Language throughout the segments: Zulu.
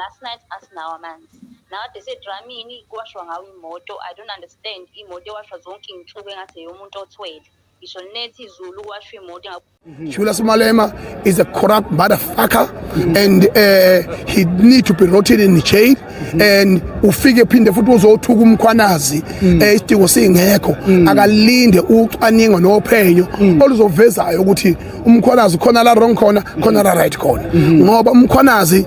last night asinawo amanzi nakade sedramini kuwashwa ngawo imoto i don't understand imoto ewashwa zonke iy'nsuku engathi eyomuntu othwele ngisho nethi izulu kwasho imoto mhm. Shula Sumalema is a corrupt motherfucker mhm. and uh, he need to be rotted in jail mhm. and ufike phinde futhi uzothuka umkhwanazi eh, isidingo singekho akalinde ucwaningo nophenyo oluzovezayo ukuthi umkhwanazi khona la wrong khona khona la right khona ngoba umkhwanazi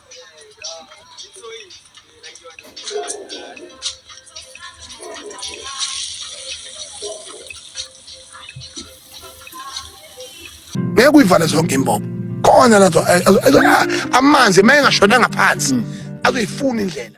ngeke uyivale zonke imbobo khona lazo amanzi uma engashonanga phansi azoyifuna indlela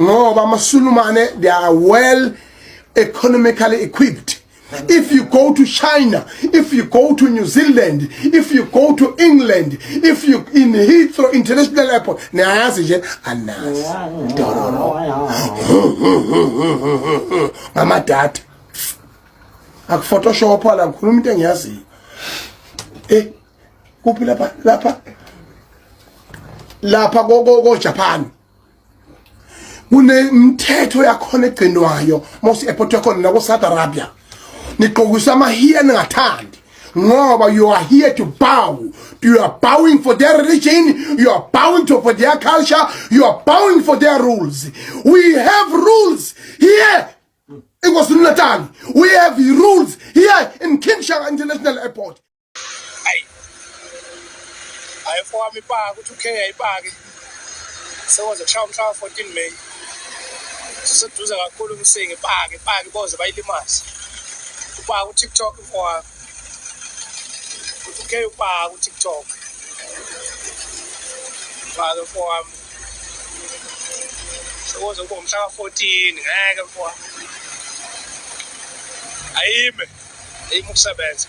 ngoba amasulumane they are well economically equipped if you go to china if you go to new zealand if you go to england if you in heathrow international airport niyayazi nje anazi ngamadata akuphotoshop la ngikhuluma into engiyaziyo eh kuphi lapha lapha lapha ko ko Japan kunemithetho yakhona egcinwayo mose airport yakhona la ku Saudi Arabia niqokisa amahiya ningathandi ngoba you are here to bow you are bowing for their religion you are bowing to for their culture you are bowing for their rules we have rules here in KwaZulu-Natal we have rules here in King Shaka International Airport Ayi. Ayi mfowami ipaka ukuthi uKhe yayipake. Sekoze kushaya umhlaba 14 May. Siseduze kakhulu umsingi ipake ipake boze bayilimaze. Upaka uTikTok mfowami. Ukuthi uKhe upaka uTikTok. Ipake mfowami. Sekoze kube umhlaba 14 ngeke mfowami. Ayime. Ayime ukusebenza.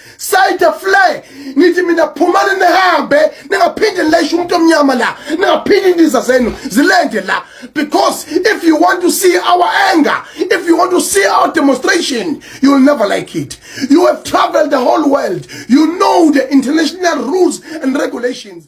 sayithe fle ngithi mina phumani nihambe ningaphinde nilayishe umuntu omnyama la ningaphinde indiza zenu zilende la because if you want to see our anger if you want to see our demonstration you will never like it you have traveled the whole world you know the international rules and regulations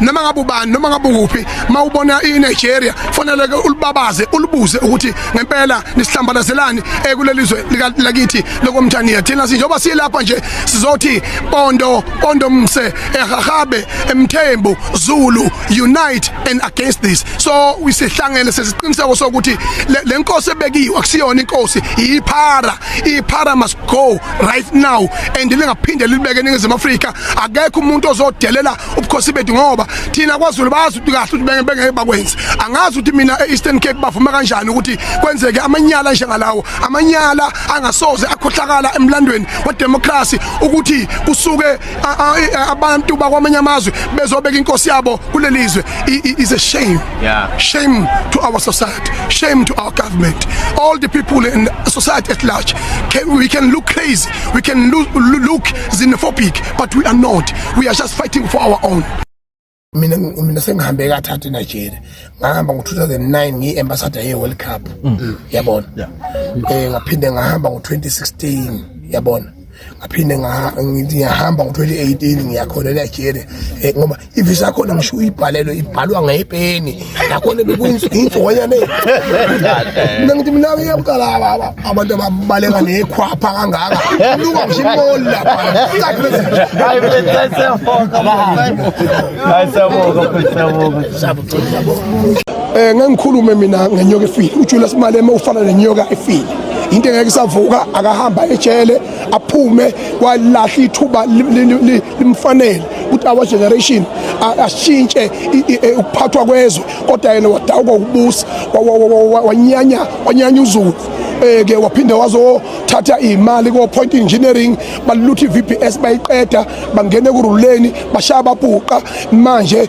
noma ngabe ubani noma ngabe ukuphi mawubona iNigeria fanele ke ulibabaze ulibuze ukuthi ngempela nisihlambalazelani ekulelizwe eh, lika lakithi lokomthaniya thina sinjoba silapha nje sizothi pondo pondo mse ehahabe emthembu zulu unite and against this so wisihlangene sesiqiniseko sokuthi lenkosi ebekiwe akusiyona inkosi iphara iphara must go right now and lingaphinde libeke ningizimu Afrika akekho umuntu ozodelela ubukhosi bethu ngoba thina kwaZulu bazi ukuthi kahle ukuthi benge bengeke bakwenze angazi ukuthi mina e-Eastern Cape bavuma kanjani ukuthi kwenzeke amanyala njengalawo amanyala angasoze akhohlakala emlandweni wedemocracy ukuthi kusuke abantu bakwamanye amazwe bezobeka inkosi yabo kulelizwe is a shame yeah. shame to our society shame to our government all the people in society at large can, we can look crazy we can look, look xenophobic but we are not we are just fighting for our own mina mina sengihambe kathathu eNigeria ngahamba ngo2009 ngiyiambassador yeWorld Cup mm. Mm. yabona eh ngaphinde ngahamba ngo2016 yabona ngaphinde ngihamba ngo2018 ngiyakhona eNigeria eh, ngoba ivisa yakhona ngisho uyibhalelwe ibhalwa ngepeni nakhona bekuyinsohonyane mina ngithi mina uyamqala abantu ababaleka nekhwapha kangaka luka ngisho imoli lapha um ngangikhulume mina ngenyoka efile ujulius malema ufana nenyoka efile into engeke isavuka akahamba ejele aphume walahla ithuba limfanele ukuthi our generation ashintshe e, ukuphathwa kwezwe kodwa yena wadawuka ukubusa wanyanya wanyanya uzulu eh, ke waphinde wazothatha imali ko point engineering balutha iVBS bayiqeda bangene kuruleni bashaya babhuqa manje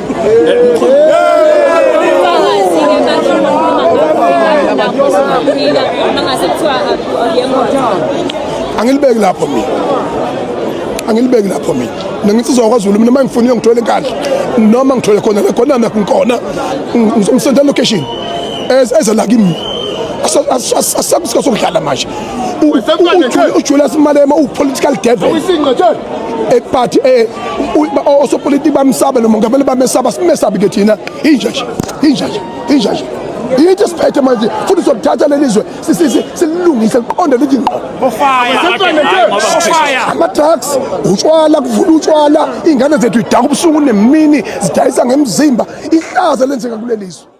angilibeki lapho mina angilibeki lapho mina mina nginsizwa kwaZulu mina uma ngifuna uyongithola enkandla noma ngithole khona la khona nakho ngikhona ngizomsenda location eze la kimi asakusika sokudlala manje ujulius malema upolitical devil eparty osopolitiki bamsabe lo mongameli bamesaba simesabi ke thina inja nje inja nje inja nje yithi siphethe manje futhi sokuthatha leli zwe sililungise liqonde lithi ngqo ama-drugs utshwala kuvula utshwala iy'ngane zethu idaka ubusuku nemini zidayisa ngemzimba ihlaza lenzeka kuleli zwe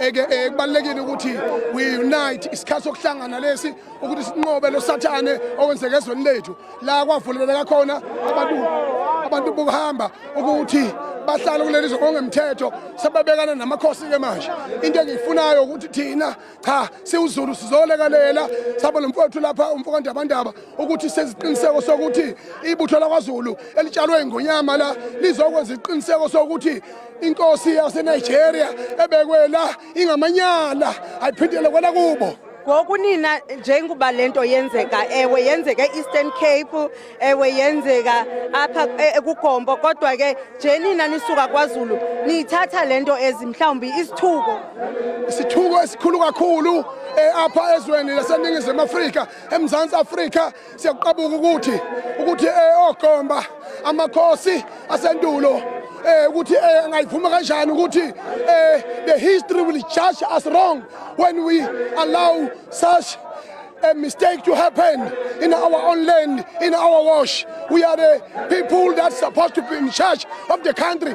eke eh, kubalekile ukuthi we unite isikhathi sokuhlangana lesi ukuthi sinqobe lo sathane owenzeke ezweni lethu la kwavuleleka khona abantu abantu bokuhamba ukuthi bahlala kuleli zongemthetho sebabekana namakhosi ke manje into engiyifunayo ukuthi thina cha siwuzulu sizolekalela sabo lomfowethu lapha umfoka Ndabandaba ukuthi seziqiniseko sokuthi ibutho lakwaZulu elitshalwe ingonyama la lizokwenza iqiniseko sokuthi inkosi yasenigeria ebekwe la ingamanyala ayiphindele kwela kubo ngoku nina njengoba le nto yenzeka ewe yenzeka e-eastern cape ewe yenzeka apha e-, ekugombo kodwa ke nje nina nisuka kwazulu niyithatha le nto ezi mhlawumbi isithuko isithuko esikhulu kakhulu um apha ezweni laseningizimu afrika emzantsi afrika Siyakuqabuka ukuthi ukuthi eh, oGomba amakhosi asendulo eh ukuthi eh angayivuma kanjani ukuthi eh the history will judge us wrong when we allow such a mistake to happen in our own land, in our wash. We are the people that's supposed to be in charge of the country.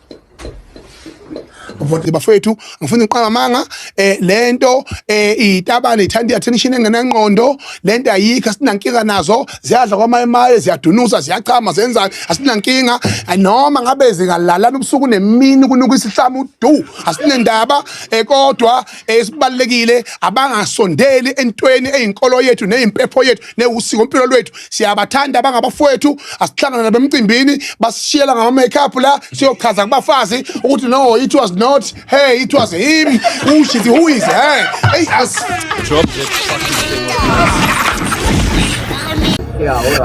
Vote bafethu ngifuna uqala manga eh lento eh itabane ithanda attention engenangqondo lento ayikho asinankinga nazo ziyadla kwamaye maye ziyadunusa ziyachama zenzani asinankinga noma ngabe zingalalana ubusuku nemini kunuka isihlamu du asinendaba eh kodwa esibalekile abangasondeli entweni eyinkolo yethu neyimpepho yethu newusiko impilo lwethu siyabathanda abangabafowethu asihlangana nabo emcimbini basishiyela ngama-makeup la siyochaza kubafazi ukuthi no it was not hey it was him who she's who is her hey as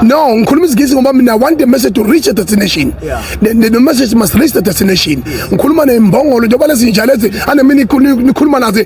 No, ngikhuluma isiNgisi ngoba mina want the message to reach a destination. Yeah. The, the, the message must reach the destination. Ngikhuluma nembongolo njengoba lezinja lezi anemini nikhuluma nazo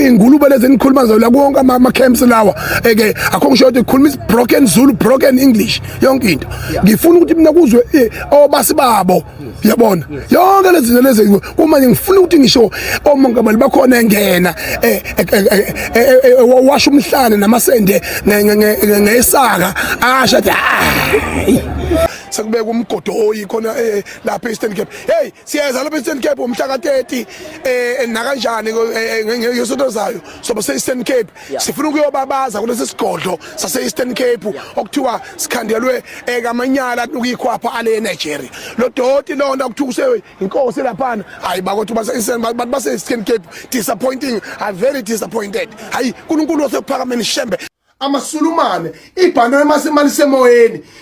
ingulube lezi nikhuluma nazo la konke ama camps lawa. eke akho ngisho ukuthi khuluma is broken Zulu broken English yonke into ngifuna ukuthi mina kuzwe eh, obasi babo yabona yonke lezi zinto lezi uma ngifuna ukuthi ngisho omongameli bakhona engena eh, eh, washa umhlane namasende ngesaka asha athi ah. sekubeka umgodo oyi khona eh, lapha e-Eastern Cape hey siyeza lapha e-Eastern Cape umhla ka-30 eh nakanjani eh, eh, ngesonto zayo soba se-Eastern Cape sifuna ukuyobabaza kulesi sigodlo sase-eastern cape okuthiwa sikhandelwe ekamanyala eh, kuyikhwapha ale enigeria lo doti loo nto kuthiwa useyinkosi laphana hayi bakothi bantu base-eastern cape disappointing are very disappointed hayi nkulunkulu wasekuphakameni shembe amasulumane ibhanana masemalisemoyeni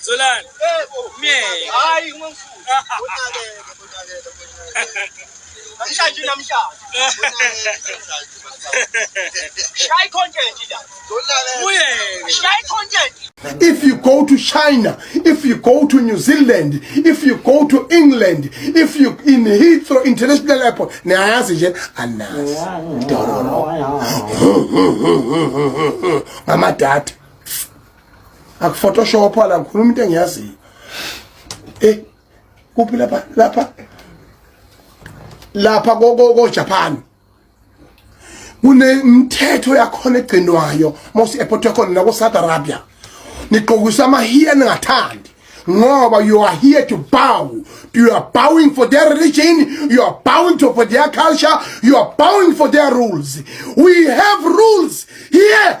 Solani. Yebo. Myeke. Hayi ungangifuni. Unakele, unakele, unakele. Namhlanje namhlanje. Shaya content la. Uyeke. Shaya content. If you go to China, if you go to New Zealand, if you go to England, if you in Heathrow International Airport, niyayazi nje anazi. Dororo. Ngama data. akuphotoshop la ngikhuluma into engiyaziyo eh kuphi lapha lapha lapha ko Japan kunemithetho yakhona egcinwayo mose ephothe khona la ko Saudi Arabia niqokisa amahiya ningathandi ngoba you are here to bow you are bowing for their religion you are bowing to for their culture you are bowing for their rules we have rules here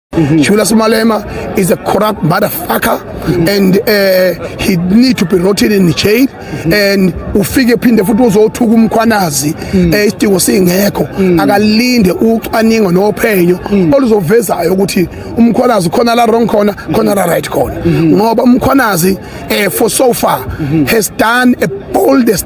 Mm -hmm. Shula Sumalema is a corrupt motherfucker mm -hmm. and uh, he need to be rotted in jail mm -hmm. and ufike phinde futhi uzothuka umkhwanazi mm -hmm. eh, isidingo singekho mm -hmm. akalinde ucwaningo nophenyo mm -hmm. oluzovezayo ukuthi umkhwanazi khona la wrong khona mm -hmm. khona la right khona mm -hmm. ngoba umkhwanazi eh, for so far mm -hmm. has done a boldest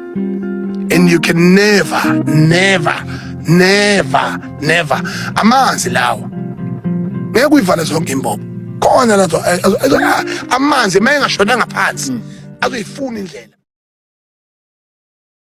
and you can never never never never amanzi lawa ngeke uyivale zonke imbobo khona lazo eh, eh, eh, amanzi uma engashonanga phansi azoyifuna indlela